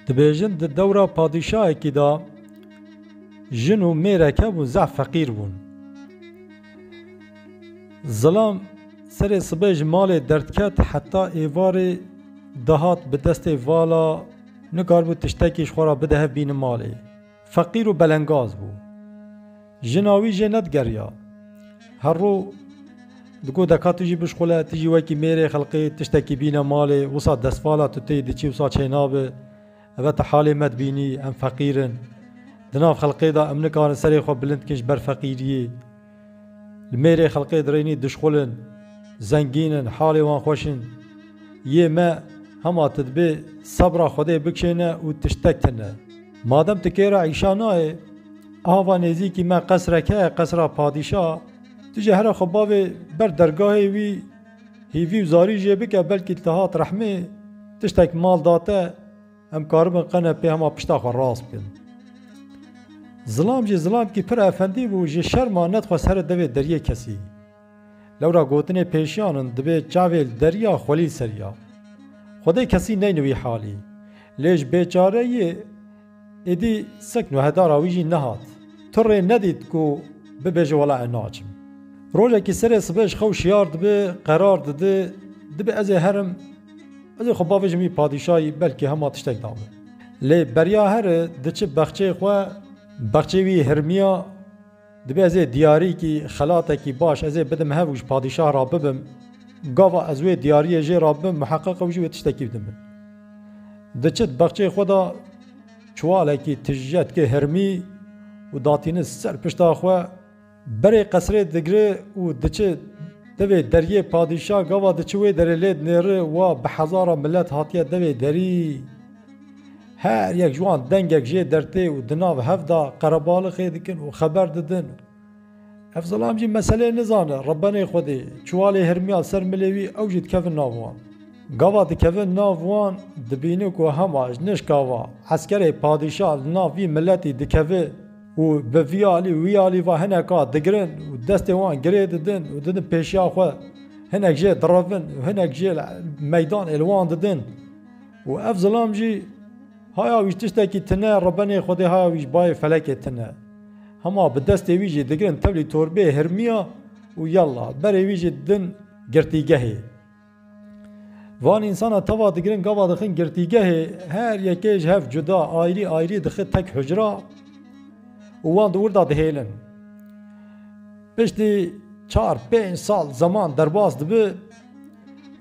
Dibêjin di dewra padîşahekî de jin û mêrek hebûn zehf feqîr bûn. Zilam serê sibê ji malê derdket heta êvarê dihat bi destê vala nikaribû tiştekî ji xwe re bide hev bînin malê. Feqîr û belengaz bû. Jina wî jê nedigeriya. Her rû digot deka tu jî bişxule, tu jî wekî mêrê xelqê tiştekî bîne malê, wisa destvala tu tê diçî wisa çênabi. Eve tu halê me dibînî, em feqîr in. Di nav xelqê de em nikarin serê xwe bilind bikin ji ber feqîriyê. Li mêrê xelkê dirênî dişxul in, zengîn in, halê wan xweş in. Yê me hema tu dibê sebra Xwedê bikişêne û tiştek tine. Madem tu kê re îşa nayê, ava nêzîkî me qesrek heye, qesra padîşa, tu jî here xwe bavê ber dergahê wî, hîvî û zarî jê bike belkî li te hat rehmê, tiştek mal date. Em karibin qenepê hema pişta xwe rast bikin. Zilam jî zilamkî pir efendî bû, ji şerma nedixwest here devê deriyê kesî. Lewra gotinê pêşiyan in dibê çavê li deriya xwelî ser ya. Xwedê kesî neyni wî halî. Lê ji bêçareyî êdî sek nuhedara wî jî nehat. Tu rê nedît ku bibêje wela ez naçim. Rojekî serê sibe ji xew şiyar dibe, qerar dide, dibe ez ê herim. Ez ê xwe bavêjim wî padîşayî belkî hema tiştek dabe. Lê beriya her diçi bexçeyê xwe, bexçeyê wî hirmiya, dibê ez ê diyarîkî, xelatekî baş ez ê bidim hev û ji padîşah ra bibim. Gava ez wê diyariyê jê ra bibim muheqeq ew jî wê tiştekî bidin min. Diçit bexçeyê xwe de çiwalekî tije dike hirmî û datînin ser pişta xwe. Berê qesrê digre û diçe devê deriyê padîşa gava diçe wê derê lê dinêre wa bi hezara milet hatiye devê derî her yek ji wan dengek jê dertê û di nav hev da qerebalixê dikin û xeber didin. Ev zilam jî meselê nizane rebenê xwedê çiwalê hirmiya ser milê wî ew jî dikevin nav wan. Gava dikevin nav wan dibîne ku hema ji nişka va eskerê padîşa li nav vî miletî dikeve Û bi vî alî û wî alî ve hineka digirin û destên wan girê didin û didin pêşiya xwe, hinek jê direvin û hinek jê li meydanê li wan didin. Û ev zilam jî haya wî ji tiştekî tune, rebenê Xwedê haya wî ji bayê felekê tune. Hema bi destê wî jî digirin tevlî torbeyê hirmiya û yella, berê wî jî didin girtîgehê. Van însana tava digirin gava dixin girtîgehê her yekê ji hev cuda ayrî ayrî dixin tek hicra û wan di wir de dihêlin. Piştî çar pênc sal zeman derbas dibi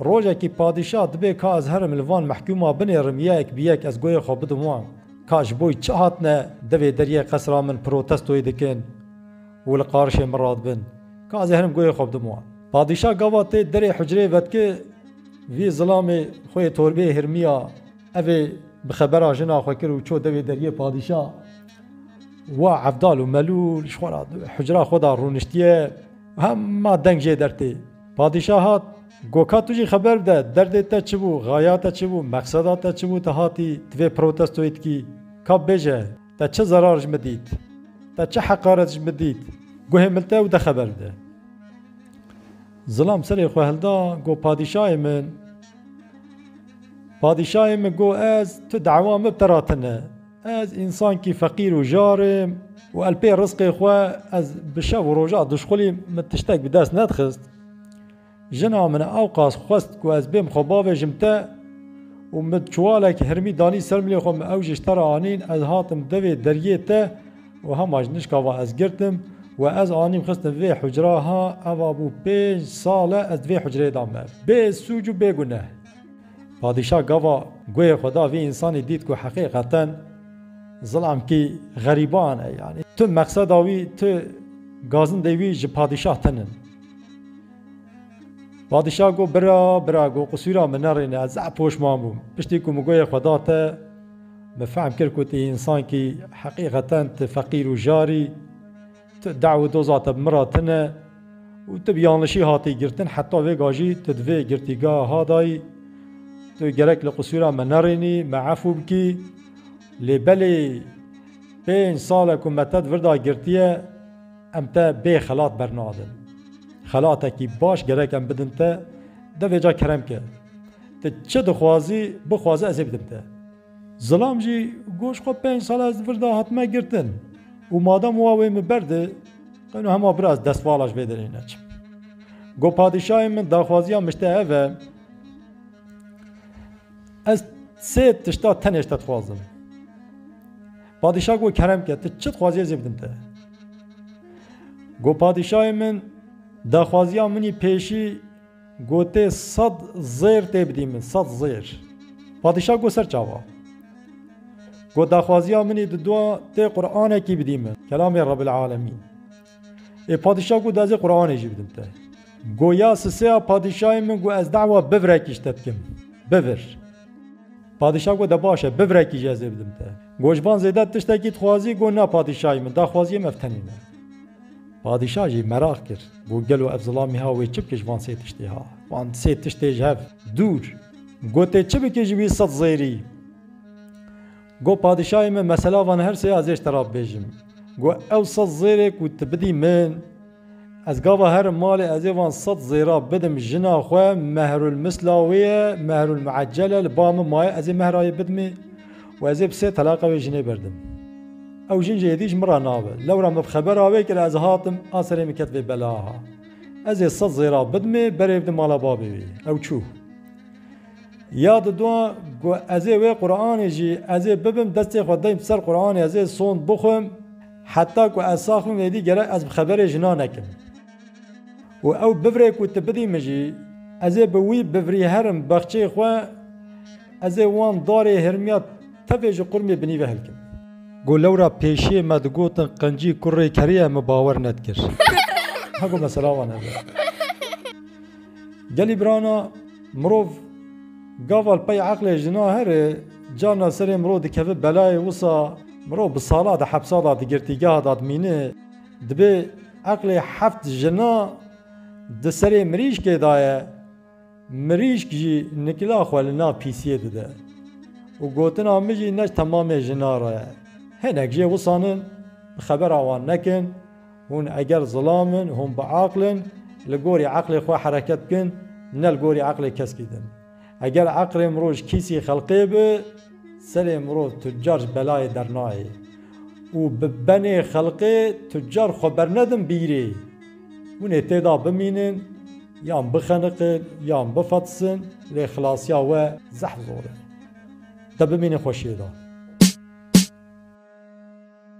rojekî padîşah dibê ka ez herim li van mehkûma binêrim yek bi yek ez goyê xwe bidim wan. Ka ji bo çi hatine devê deriyê qesra min protestoyê dikin Û li qarişê min radibin. Ka ez ê herim goyê xwe bidim wan. Padîşa gava tê derê hucreyê vetkê vî zilamê xwe yê torbeyê hirmiya ev ê bi xebera jina xwe kir û çû dewê deriyê padîşa wa evdal û melûl ji xwe re hucra xwe da rûniştiye hema deng jê der tê. Padîşa hat, Go ka tu jî xeber bide derdê te çi bû, xaya te çi bû, meqseda te çi bû tu hatî divê protestoyê dikî. Ka bêje. Te çi zerar ji min dît? Te çi heqaret ji min dît? Guhê min te û de xeber bide. Zilam serê xwe hilda got, Padîşahê min! Padîşahê min got, Ez, tu dewa min bi te re tune. Ez însankî feqîr û jar im û elpê rizqê xwe ez bi şev û roja duşxulî min tiştek bi dest nedixist. Jina min ewqas xwest ku ez bêm xwe bavêjim te û min çiwalek hirmî danî ser milê xwe min ew ji te re anîn, ez hatim devê deriyê te û hema ji nişka van ez girtim we ez anîm xistim vê hucra ha eva bû pênc sal e ez di vê hucreyê de me bê sûc û bê guneh. Padîşah gava guhê xwe da vî însanî dît ku heqîqeten zilamkî xerîban e yanî tu meqseda wî tu gazindê wî ji padîşah tinin. Padîşah got, Bira, bira, got qisûra min nerîne, ez zehf poşman bûm. Piştî ku min goyê xwe da te, min fehm kir ku tu însankî heqîqeten tu feqîr û jar î, tu dew û doza te bi min re tune û tu bi yanlişî hatî girtin, heta vê ga jî tu di vê girtîgeha ha de yî. Tu gerek li qisûra me nerînî, me efû bikî. Lê belê pênc sal e ku me te di vir de girtiye. Em te bê xelat bernadin. Xelatekî baş gerek em bidin te, de vê ca kerem ke. Ti çi dixwazî, bixwaze ez ê bidim te. Zilam jî got xwe pênc sal ez vir de hatime girtin û madem wa wê min ber di, qeyno hema vir ez destvala ji vê derê neçim. Got padîşahê min daxwaziya min ji te ev e, ez sê tişta tenê ji te dixwazim. Padîşah got, Kerem ke, ti çi dixwazî ez ê bidim te. Got, Padîşahê min, daxwaziya min î pêşî gotê sed zêr tê bidî min, sed zêr. Padîşah got, Ser çawa? Got, Daxwaziya min î diduwa tê Quranekî bidî min, kelamê Rebbil Alemîn. Ê padîşa got ez ê Quranê jî bidim te. Got ya siseya padîşayê min got ez dawa bivrekî ji te dikim. Bivir. Padîşa got de baş e bivrekî jî ez ê bidim te. Got ji van zêde tiştekî dixwazî got na padîşayê min daxwaziyê min ev tenê me. Padîşa jî meraq kir got gelo ev zilamî ha wê çi bike ji van sê tiştê ha. Van sê tiştê ji hev dûr. Gotê çi bike ji wî sed zêrî. Go padîşahê min mesela van her sê azêj te ra bibêjim. Go ew sed zêrê ku tu bidî min, ez gava herim malê ezê van sed zêra bidim jina xwe mehrulmisla wê ye, mehrulmueccel e li ba min maye ezê mehra yê bidimê û ezê bi sê telaqa wê jinê berdim. Ew jin jê êdî ji min ra nabe. Lewra min bi xebera wê kir ez hatim a serê min ket vê belaha. Ezê sed zêra bidimê berê bidim mala babê wê. Ew çû. Ya dido ku ez ê wê Quranê jî ez ê bibim destê xwe deym ser Quranê ez ê sond bixwim heta ku ez sax bim êdî gerek ez bi xeberê jina nekim û ew bivrê ku tu bidî min jî ez ê bi wî bivrî herim bexçeyê xwe ez ê wan darê hirmiya tevê ji qurmê binî ve hilkim. Got lewra pêşiyê me digotin qincî kurê kerê ye min bawer nedikir. Hego mesela wan hebe. Gelî birana mirov gaval pey eqlê jina here carna serê mirov dikeve belayê wisa mirov bi sala di hepsa da digirtîgeha da dimîne dibê eqlê heft jina di serê mirîşkê da ye mirîşk jî nikila xwe li nav pîsiyê dide û gotina min jî ne ji temamê jina re ye hinek jê wisanin bi xebera wan nekin Hûn eger zilam in, hûn biaql in, li gorî eqlê xwe hereket bikin, ne li gorî eqlê keskî din. Eger eqlê mirov ji kîsî xelqê bi, serê mirov tucar ji belayê dernayê û bi benê xelqê tucar xwe bernedin bîrê. Hûn ê tê de bimînin, yan bixeniqin, yan bifetisin, lê xilasiya we zehf zor e. Te bimînin xweşiyê de.